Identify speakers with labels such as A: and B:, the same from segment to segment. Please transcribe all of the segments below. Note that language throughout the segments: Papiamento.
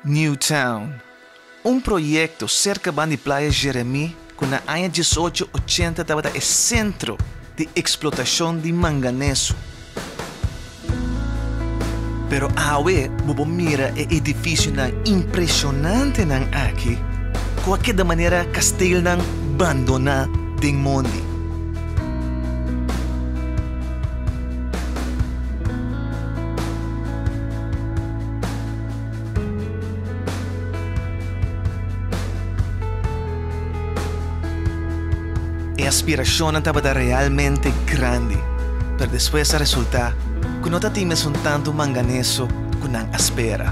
A: New Town, un proyekto serka ban di Playa Jeremie ku na aña dies ocho ochenta tabata e sentro di eksplotashon di manganeso. Pero awe bo por mira e edifisionan impreshonantenan aki ku a keda manera kastelnan bandoná den mondi. E aspirashonnan tabata realmente grandi, pero despues a resultá ku no ta tin mesun tantu manganeso ku nan a spera.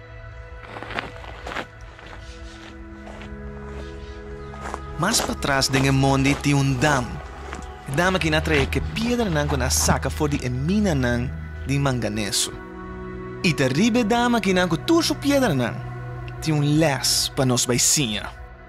A: Mas patras den e mondi tin un dam. E dam aki na trae ke piedranan ku na saka for di e minanan di manganeso. I ta riba e dam akinan ku tur su piedranan tin un lès pa nos bai siña.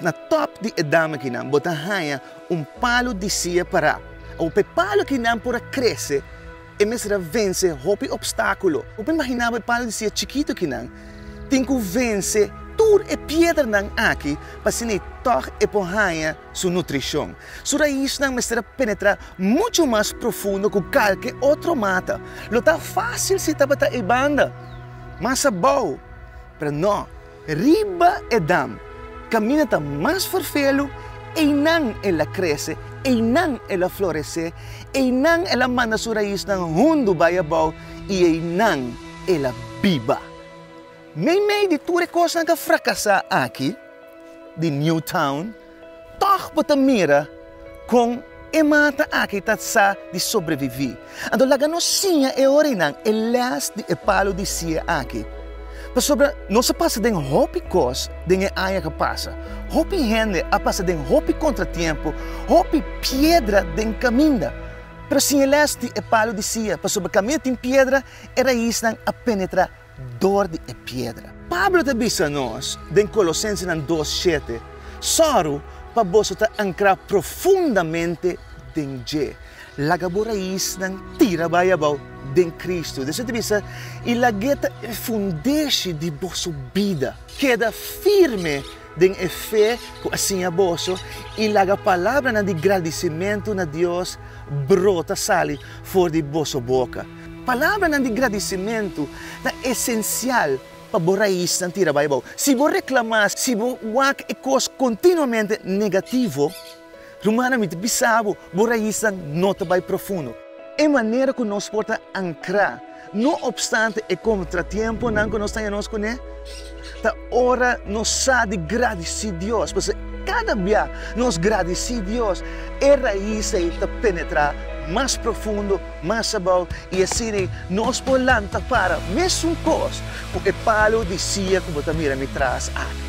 A: Na top di e dama kinan bo ta haña un palu di sia pará. Awor pa e palu kinan por a krese, e mester a vense hopi opstákulo. Bo por imaginá bo e palu di sia chikitu kinan tin ku vense tur e piedernan aki pa asina i tòg e por haña. su nutricion. Su raisnan mester a penetra mucho mas profundo cu calke otro mata. Lo ta facil si tabata e banda mas abao, pero no, riba e dam, camina ta mas vervelu, eynan el a crece, eynan el a florece, eynan el a manda su raisnan hundu bay abao y eynan el a biba. Nei mei di tur e kosnan ka frakasá aki di Newtown, tòg bo ta mira kon e mata aki ta sa di sobreviví. Anto laga nos siña e orinan e lès di e palu di sié aki, pasobra nos a pasa den hopi kos den e aña ku a pasa. Hopi hende a pasa den hopi kontratiempu, hopi piedra den kaminda, pero sin e lès di e palu di sié, pasobra kaminda tin piedra, e raisnan a penetrá dor di e piedra. Pablo ta bisa nos den Colosensenan dos shete, Sòru pa boso ta ankrá profundamente den Dje, laga bo raisnan tira bai abou den Kristu. Dései ta bisa, I lag'é ta e fundeshi di boso bida. Keda firme den e fe ku a siña boso, i laga palabranan di gradisimentu na Dios brota sali for di boso boka. Palabranan di gradisimentu ta esensial pa bo raisnan tira bai abou. Si bo reklamá, si bo wak e kos kontinuamente negativo, rumannan mi ta bisa bo, bo raisnan no ta bai profundo. E manera ku nos por ta ankrá, no opstante e kontratiemponan ku nos ta hia nos kuné, Ta ora nos sa di gradisí Dios, pasobra kada bia nos gradisí Dios, e rais ei ta penetrá mas profundo, mas abou, i asina nos por lanta para mesun kos ku e palu di sia ku bo ta mira mi tras aki.